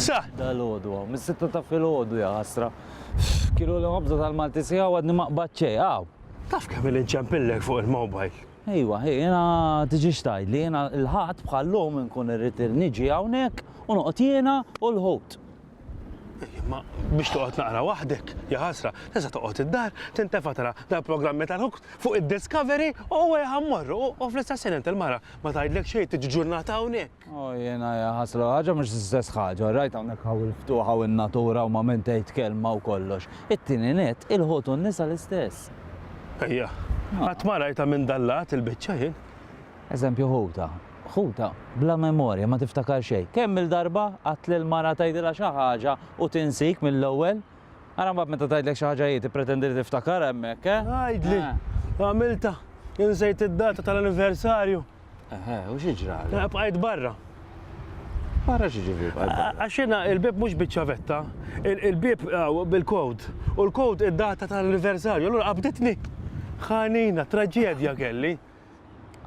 Sa! Dal-ħodu għaw, mis-sitta ta' fil-ħodu ja ħasra. Kilu li għabza tal-Malti sija għadni maqbad ċej, għaw. Taf kemm li nċempillek fuq il-mobile? Ejwa, ej, jena tiġi xtajt li jena l-ħat bħallum nkun irrit niġi għawnek u noqot jena u l-ħut. Ma biex toqgħod naqra waħdek, ja ħasra, tista' toqgħod id-dar, tintefa' tara dal-programmi tal-hooked fuq id-Discovery u għaj ħammorru u fl-istess ħin il-mara ma tgħidlek xejn tiġi ġurnata hawnhekk. O jiena ja ħasra, ħaġa mhux l-istess ħaġa, rajt hawnhekk hawn il-ftuħ hawn in-natura u ma min tgħid kelma u kollox. It-tieni nett, il-ħut u n-nisa l-istess. Ejja, qatt ma rajtha minn dal-lat il-biċċa jien. Eżempju ħutha. Ħutha bla memorja, ma tiftakar xejn. Kemm-il darba qatt lil mara tgħidilha xi ħaġa u tinsik mill-ewwel? Ara mbagħad meta tgħidlek xi ħaġa hi tippretendi li tiftakarha hemmhekk, eh? Għidli, għamiltha, insejt id-data tal-anniversarju. Eħe, u xi ġralek? Eh, bqajt barra. Barra xi ġifieri bqajt barra? Għax jiena il-bieb mhux biċ-ċavetta, il-bieb eh, bil-kod, u l-kod id-data tal-anniversarju, allura qabditni. Ħanina, traġedja kelli.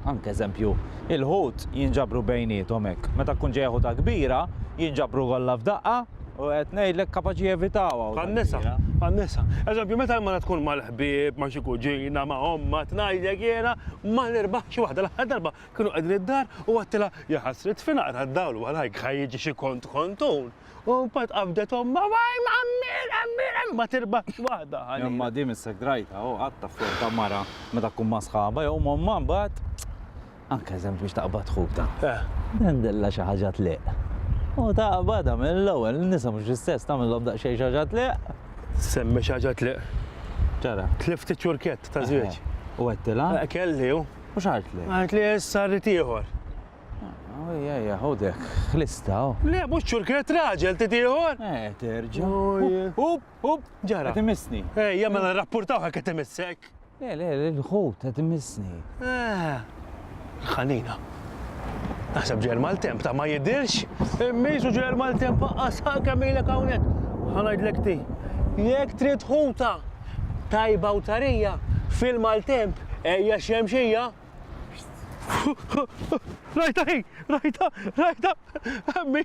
Anke eżempju, il-ħut jinġabru bejniethom hekk. Meta tkun ġejja ħuta kbira, jinġabru kollha f'daqqa u qed ngħidlek kapaċi jevitawha. Għan-nisa, għan-nisa. Eżempju, meta l-mara tkun mal-ħbieb, ma' xi kuġina, ma' ommha, tngħidlek jiena ma nirbaħx xi waħda. L-aħħar darba kienu qegħdin id-dar u għedtilha, 'Ja ħasret, f'inaqra d-dawl warajk ħa jiġi xi kont kontun. U mbagħad qabdet ommha, waj għammir, għammir, għammir, ma tirbaħx waħda. Imma di missek drajta, u għatta flok ta' mara meta tkun ma' sħaba, jew momma mbagħad. Anke eżempju biex taqbad ħuk ta'. Eh. Dendella xi ħaġa tliq. U taqbadha mill-ewwel, nisa mhux l-istess tagħmilhom daqsxejn xi ħaġa tliq. Semmi xi ħaġa tliq. Ċara. Tlift iċ-ċurkett ta' żwieġ. U għedtilha? Eh, kelli u. U x'għartli? Għartli issa rrid ieħor. Ejja, ejja, ħud hekk, ħlistha, hu. Le, mhux ċurkret, raġel, trid ieħor? Eh, terġa'. Up, up, ġara. Qed imissni. Ejja, mela nrappurtawh hekk qed imissek. Le, le, le, l-ħut qed imissni. Eh, ħanina. Naħseb ġel mal-temp ta' ma jidirx, immisu ġel mal-temp faqqas kemm ilek hawnhekk. Ħanajdlek ti. Jekk trid ħuta tajba u tarija fil-maltemp ejja xemxija. Rajta hi, rajta, rajta, għammi.